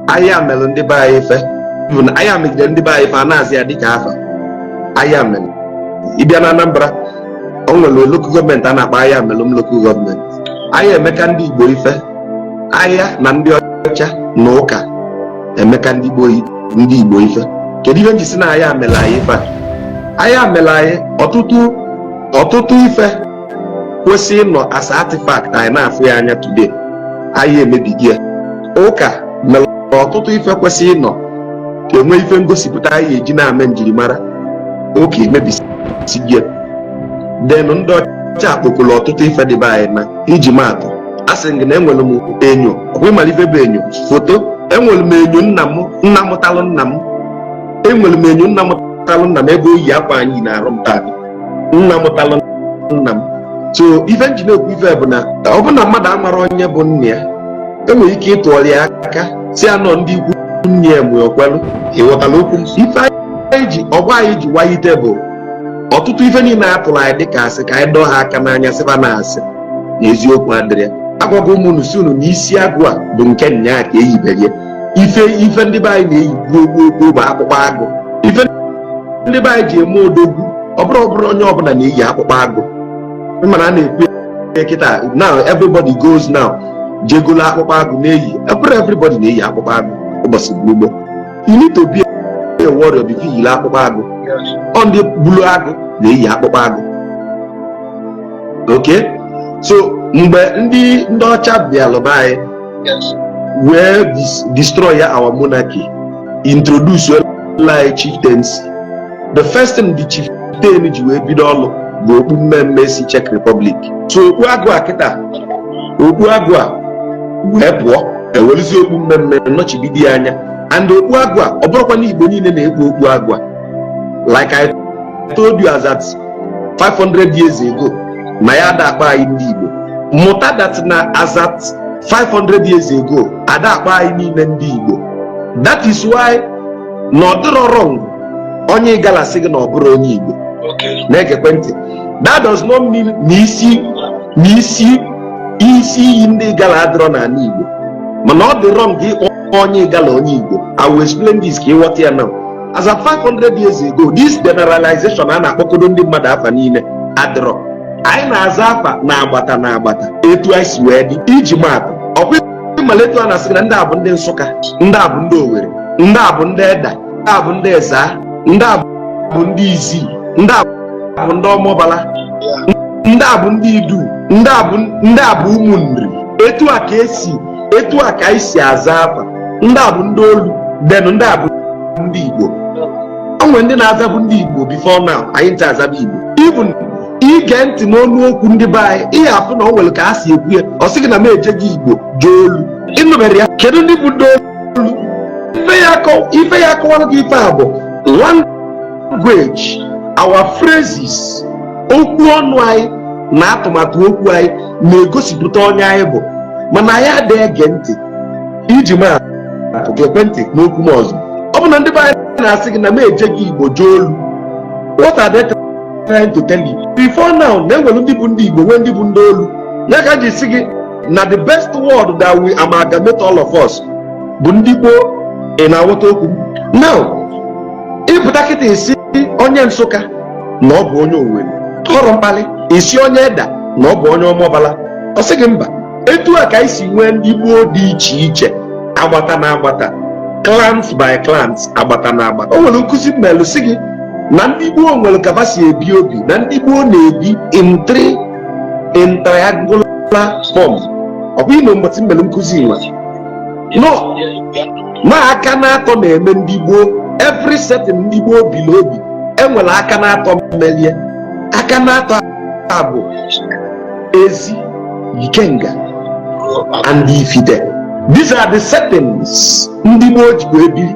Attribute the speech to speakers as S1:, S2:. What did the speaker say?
S1: aya melu ndị be anyị ife bụ na aya megide ndị be anyị ife a na-aza ya dịka afa aya melu ị bịa na Anambra o nwere lokal gọọmenti a na-akpọ Ayamelum lokal gọọmenti aya emeka ndị Igbo ife aya na ndị ọcha na ụka emeka ndị Igbo ife kedu ihe m ji sị na aya mere anyị ife aya mere anyị ọtụtụ ife kwesị ịnọ as artifact anyị na-afụ ya anya today aya emebie ya ụka mere ọtụtụ ife kwesị ịnọ ka enwe ife ngosipụta anyị eji na-ame njirimara ụka emebisie ya then ndị ọcha akpokolo ọtụtụ ife dị be anyị na iji maatụ asị m gị na enwere m enyo ọkwa ị mara ife bụ enyo foto enwere m enyo nna m nna mụtalụ nna m enwere m enyo nna mụtalụ nna m ebe o yi akwa a m yi n'arụ m taa nna mụtalụ nna m so ife nji na-ekwu ife bụ na ọ bụ na mmadụ amarọ onye bụ nna ya enwere ike ịtụọrọ ya aka sị ya na ọ ndị ikwu nne ya mgbe okwelu ị ghọtara okwu m ife anyị ji ọgwa anyị ji wayite bụ ọtụtụ ife niile a tụrụ anyị dịka asị ka anyị dọọ ha aka n'anya sị va na asị na eziokwu adịrị ya agwago m unu sị unu na isi agụ a bụ nke nnyaa ka e yibere ya ife ife ndị be anyị na-eyi gboo gboo gboo bụ akpụkpọ agụ ife ndị be anyị ji eme odogwu ọ bụrọ ọ bụrọ onye ọbụla na-eyi akpụkpọ agụ mana a na-ekwu ya kịta now everybody goes now je golo akpụkpọ agụ na-eyi ọ bụrọ everybody na-eyi akpụkpọ agụ ụbọchị gboo gboo you need to be a warrior before you yiri akpụkpọ agụ ọ ndị gbulu agụ na-eyi akpụkpọ agụ okay so mgbe ndị ndị ọcha bịalụ be anyị wee dis- destroy ya our monarchy introduce lụ anyị chieftaincy the first thing the chieftain ji wee bido ọlụ bụ okpu mmee mmee si Czech Republic so okpu agụ a kịta okpu agụ a wee pụọ e welụzie okpu mmee mmee nọchibido ya anya and okpu agụ a ọ bụrọkwa na Igbo niile na-ekpu okpu agụ a like I told you as at 500 years ago na ya ada akpọ anyị ndị Igbo mụta that na as at 500 years ago ada akpọ anyị niile ndị Igbo that is why na ọ dịrọ wrong onye Igala sị gị na ọ bụrọ onye Igbo na-egekwe ntị that does not mean na isi na isi isi iyi ndị Igala adịrọ n'ana Igbo mana ọ dị wrong gị ịkpọ onye Igala onye Igbo I will explain this ka ị ghọta ya now as at 500 years ago this generalization a na-akpọkodo ndị mmadụ afa niile adịrọ anyị na-aza afa na agbata na agbata etu anyị si wee dị iji maatụ ọkwa ị malụ etu a na-asị na ndị a bụ ndị Nsụka ndị a bụ ndị Owere ndị a bụ ndị Eda ndị a bụ ndị Eza ndị a bụ ndị Izii ndị a bụ ndị Ọmambala ndị a bụ ndị Idu ndị a bụ ndị a bụ ụmụ Nri etu a ka e si etu a ka anyị si aza afa ndị a bụ ndị olu then ndị a bụ ndị igbo o nwere ndị na-azabu ndị igbo before now anyị ncha azaba igbo even i gee ntị n'ọnụ okwu ndị be anyị ị ya-afụ na o nwere ka a si ekwu ya ọ sị gị na m ejego igbo jee olu ị nụbere ya kedu ndị bụ ndị olu ife ya akọwara gị ife a bụ language our phrases okwu ọnụ anyị na atụmatụ okwu anyị na-egosipụta onye anyị bụ mana anyị adịghị ege ntị iji ma atụ ka e gee ntị n'okwu m ọzọ ọ bụ na ndị be anyị na-asị gị na m ejego igbo jee olu what are they trying to tell you before now na e nwere ndị bụ ndị igbo nwee ndị bụ ndị olu ya ka e ji sị gị na the best word that will amalgamate all of us bụ ndị gboo ị na-aghọta okwu m now ị pụta kịta ị sị onye nsụka na ọ bụ onye owere ọ bụrụ mkpali ị sị onye eda na ọ bụ onye ọmọbala ọ sị gị mba etu a ka anyị si nwee ndị gboo dị iche iche agbata na agbata clans by clans agbata na agbata o nwere nkụzi m melụ sị gị na ndị gboo nwere ka fa si ebi obi na ndị gboo na-ebi in three in triangular form ọ bụ ime mgbatị m mere nkụzi nwa no na aka na-atọ na-eme ndị gboo every setting ndị gboo biri obi e nwere aka na-atọ mere ya aka na-atọ a bụ ezi ikenga and ifite these are the settings ndị gboo jibu ebiri